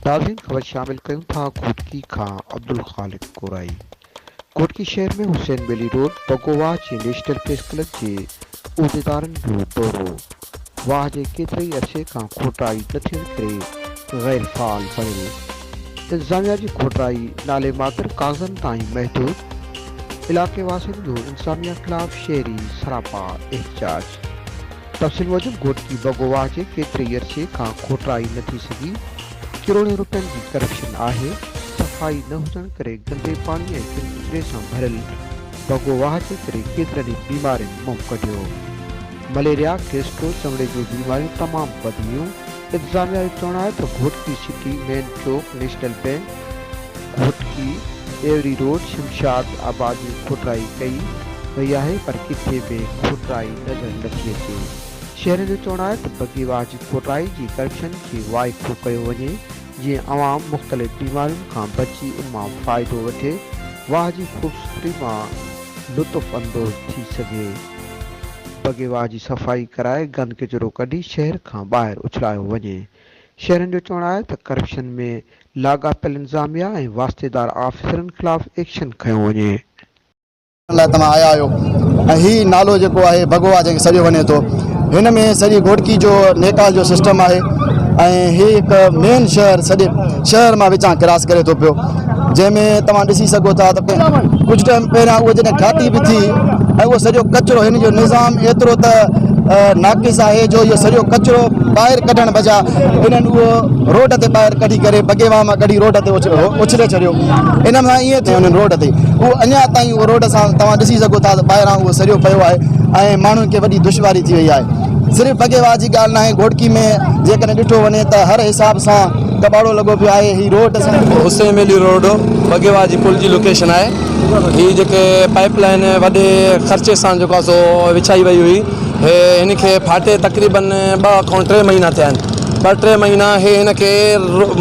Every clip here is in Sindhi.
تازين خبر شامل ڪيون ٿا گهوٽڪي کان عبدالخالق ڪورائي گهوٽڪي شهر ۾ حسين ٻيلي روڊ بگو واهه جي نيشنل پريس ڪلب جي عهديدارن جو دورو. واهه جي ڪيتري عرصي کان کوٽرائي نه ٿيڻ ڪري غير فعال پيو هو. انتظاميا جي کوٽرائي نالي ماتر ڪاغذن تائين محدود، علائقي واسين جو انتظاميا خلاف شهري سراپا احتجاج. تفصيل موجب گهوٽڪي بگو واهه جي ڪيتري عرصي کان کوٽرائي نه ٿي سگهي، ڪروڙين رپين جي ڪرپشن آهي، صفائي نه هجڻ ڪري گندي پاڻي ۽ ڪن ڪچري سان ڀريل بگو واهه جي ڪري ڪيترن ئي بيمارين منهن ڪڍيو. مليريا، گيسٽرو چمڙي جون بيماريون تمام وڌنديون، انتظاميا جو چوڻ آهي ته گهوٽڪي سٽي، مين چوڪ، نيشنل بئنڪ، گهوٽڪي، ايوري روڊ، شمشاد آباد ۾ کوٽرائي ڪئي وئي آهي پر ڪٿي به کوٽرائي نظر نٿي اچي، شهرين جو چوڻ آهي ته بگيواهه جي کوٽرائي جي ڪرپشن کي وائکو ڪيو وڃي، جيئن عوام مختلف بيمارين کان بچي ان مان فائدو وٺي واهه جي خوبصورتي مان لطف اندوز ٿي سگهي. بگي واهه جي صفائي ڪرائي گند ڪچرو ڪڍي شهر کان ٻاهر اڇلايو وڃي. شهرين جو چوڻ آهي ته ڪرپشن ۾ لاڳاپيل انتظاميا ۽ واسطيدار آفيسرن خلاف ايڪشن کنيو وڃي. ڪرڻ لاء توهان آيا آهيو ۽ هي نالو جيڪو آهي ڀڳو آهي جنهن کي سڏيو وڃي ٿو هن ۾ سڄي گهوٽڪي جو نيڪال جو سسٽم آهي ۽ هي هڪ مين شهر سڄي شهر مان وچان ڪراس ڪري ٿو پيو جنهن ۾ توهان ڏسي سگهو ٿا ته ڪجهه ٽائيم پهريان اهو جڏهن ٺاهي به ٿي ۽ اهو سڄو ڪچرو هن جو نظام ايترو ته ناقص آهي جو اهو سڄو ڪچرو ٻاهر ڪڍڻ بجا انهن اهو روڊ تي ٻاهر ڪڍي ڪري بگيوا مان ڪڍي روڊ تي اڇلي ڇڏيو انهن سان ائين ٿيو انهن روڊ تي اهو اڃا تائين اهو روڊ سان توهان ڏسي سگهو ٿا ته ٻاهران اهو سريو پيو آهي ۽ ماڻهن کي وڏي دشواري ٿي وئي آهي صرف بگيوار جي ڳالهه ناهي گهوٽڪي ۾ جيڪڏهن ڏٺو وڃي ته هر حساب سان ڪٻاڙو لڳو پيو آهي هي روڊ حسين ميلي روڊ بگيوار جي پل جي لوڪيشن آهي هي جيڪي پائپ لائن وڏي خرچي سان جيڪو آهي سو وڇائي وئي هئي هي هن کي ڦاٽي تقريبن ٻه کان ٽي مهينا ٿيا آهن ٻه ٽي مهينا هي هن کي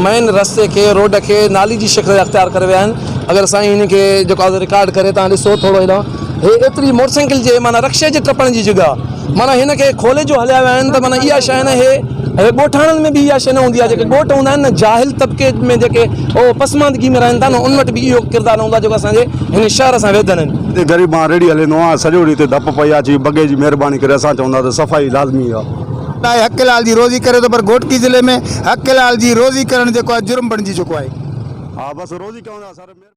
مين رستي کي روڊ کي نالي جي شڪل اختيار ڪري ويا آهن اگر سائين هن کي جيڪو آهي رڪارڊ ڪري تان ڏسو ٿورو هيڏانهن هي ايتري موٽر سائيڪل جي معنيٰ رڪشي جي ٽپڻ جي جڳهه معنيٰ هن کي کولي جو هليا ويا آهن ته معنيٰ اها شي نه هي هي ڳوٺاڻن ۾ به اها شي نه هوندي آهي جيڪي ڳوٺ هوندا آهن نه جاهل طبقي ۾ جيڪي هو پسماندگي ۾ رهن ٿا نه ان وٽ به اهو ڪردار نه هوندو آهي جيڪو اسان جي هن شهر سان ويڌن آهن. هتي غريب مان ريڙهي هليندو آهيان سڄو ڏينهن هتي ڌپ پئي آهي چي بگي جي مهرباني ڪري اسان چوندا ته صفائي لازمي آهي. لاء حق حلال جي روزي ڪري ٿو پر گهوٽڪي ضلعي ۾ حق حلال جي روزي ڪرڻ جيڪو آهي جرم بڻجي چڪو آهي.